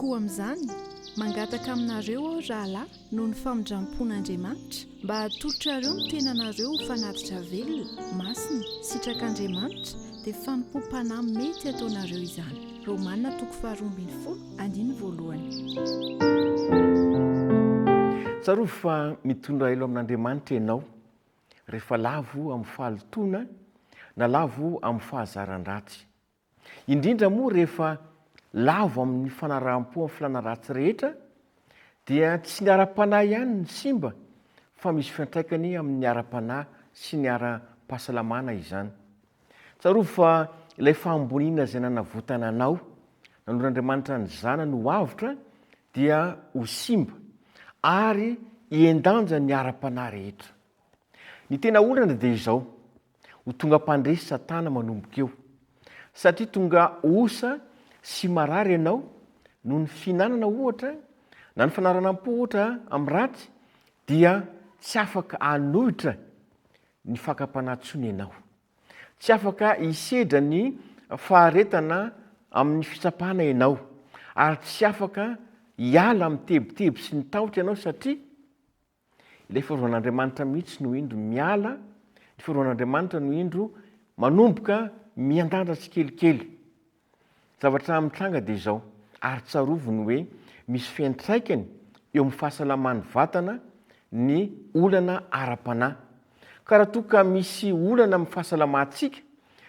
Koa amin'izany, mangataka aminareo aho, rahalahy, noho ny famindrampon'Andriamanitra, mba hatolotrareo ny tenanareo ho fanatitra velona, masina, sitrak'Andriamanitra, dia fanompoam-panahy mety ataonareo izany. Romana toko faharoa ambin'ny folo, andiny voalohany. Tsarovy fa mitondra ilo amin'Andriamanitra ianao, rehefa lavo amin'ny fahalotoana na lavo amin'ny fahazaran-dratsy. Indrindra moa rehefa lavo amin'ny fanaraham-po amin'ny filàna ratsy rehetra, dia tsy ny ara-panahy ihany no simba fa misy fiantraikany amin'ny ara-panahy sy ny ara-pahasalamana izany. Tsarovy fa ilay fahamboniana izay nanavotana anao, nanoro Andriamanitra ny Zanany ho avotra dia ho simba ary hihen-danja ny ara-panahy rehetra. Ny tena olana dia izao, ho tonga mpandresy Satana manomboka eo, satria tonga osa sy marary ianao noho ny fihinanana ohatra na ny fanaranam-po ohatra amin'ny ratsy dia tsy afaka hanohitra ny fakam-panahy intsony ianao. Tsy afaka hisedra ny faharetana amin'ny fitsapana ianao, ary tsy afaka hiala amin'ny tebiteby sy ny tahotra ianao, satria ilay Fiarovan-Andriamanitra mihitsy no indro miala, ny Fiarovan-Andriamanitra no indro manomboka miandandra tsikelikely. Zavatra mitranga dia izao, ary tsarovy ny hoe misy fiantraikany eo amin'ny fahasalaman'ny vatana ny olana ara-panahy. Ka raha toa ka misy olana amin'ny fahasalamantsika,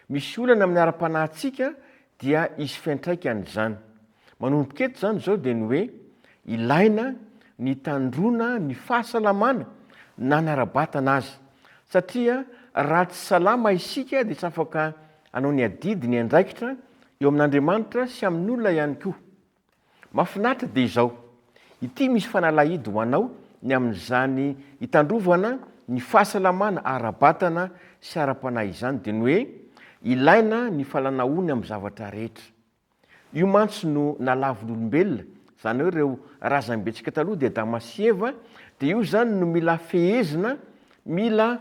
misy olana amin'ny ara-panahintsika dia hisy fiantraikany izany. Manomboka eto izany izao dia ny hoe ilaina ny hitandroana ny fahasalamana na ny ara-batana aza. Satria raha tsy salama isika dia tsy afaka Hanao ny adidy, ny andraikitra, eo amin'Andriamanitra sy amin'olona ihany koa. Mahafinaritra dia izao. Ity misy fanalahidy ho anao ny amin'izany hitandrovana ny fahasalamana ara-batana sy ara-panahy izany dia ny hoe, ilaina ny falanahony amin'ny zavatra rehetra. Io mantsy no nalavin'olombelona, izany hoe ireo razambentsika taloha dia Adama sy Eva, dia io izany no mila fehezina, mila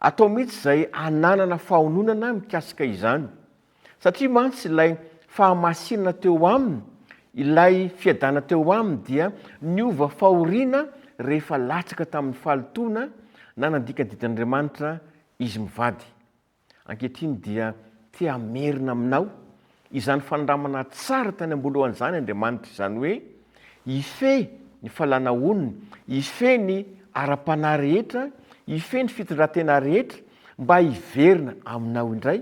atao mihitsy izay hananana fahononana mikasika izany. Satria mantsy ilay fahamasinana teo aminy, ilay fiadana teo aminy dia niova fahoriana rehefa latsaka tamin'ny fahalotoana na nandika ny didin'Andriamanitra izy mivady. Ankehitriny dia te hamerina aminao izany fanindramana tsara tany am-boalohany izany Andriamanitra, izany hoe hifehy ny falanahoniny, hifehy ny ara-panahy rehetra, hifehy ny fitondran-tena rehetra mba hiverina aminao indray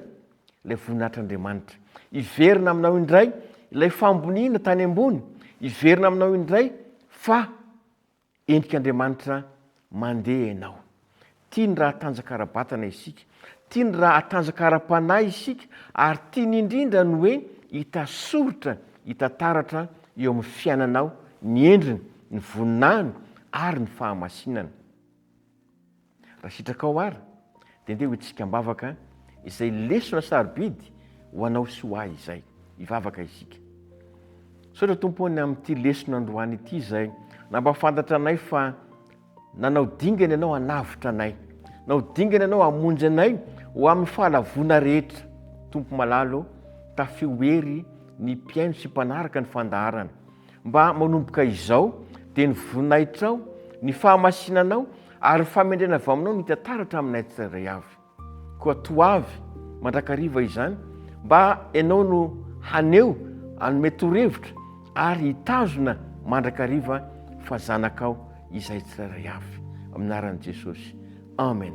ilay voninahitr'Andriamanitra, hiverina aminao indray ilay fahamboniana tany ambony, hiverina aminao indray fa. Endrik'Andriamanitra mandeha ianao. Tiany raha hatanjaka ara-batana isika, tiany raha hatanjaka ara-panahy isika, ary tiany indrindra ny hoe hita soritra, hita taratra eo amin'ny fiainanao ny endriny, ny voninahiny ary ny fahamasinany. Raha sitrakao ara dia ndeha ho hetsika am-bavaka izay lesona sarobidy ho anao sy ho ahy izay. Hivavaka isika. Misaotra Tompo any amin'ity lesona androany ity izay nampafantatra anay fa nanao dingana Ianao hanavotra anay. Nanao dingana Ianao hamonjy anay ho amin'ny fahalavoana rehetra. Tompo malalo, tafio hery ny mpihaino sy mpanaraka ny fandaharana. Mba manomboka izao, dia ny voninahitrao, ny fahamasinanao, ary ny fahamendrena avy aminao no hita taratra aminay tsirairay avy. Koa toa avy, mandrakariva izany, mba Ianao no haneho, hanome torohevitra, ary hitazona mandrakariva fa zanakao izahay tsirairay avy. Amin'ny anaran'i Jesosy. Amen.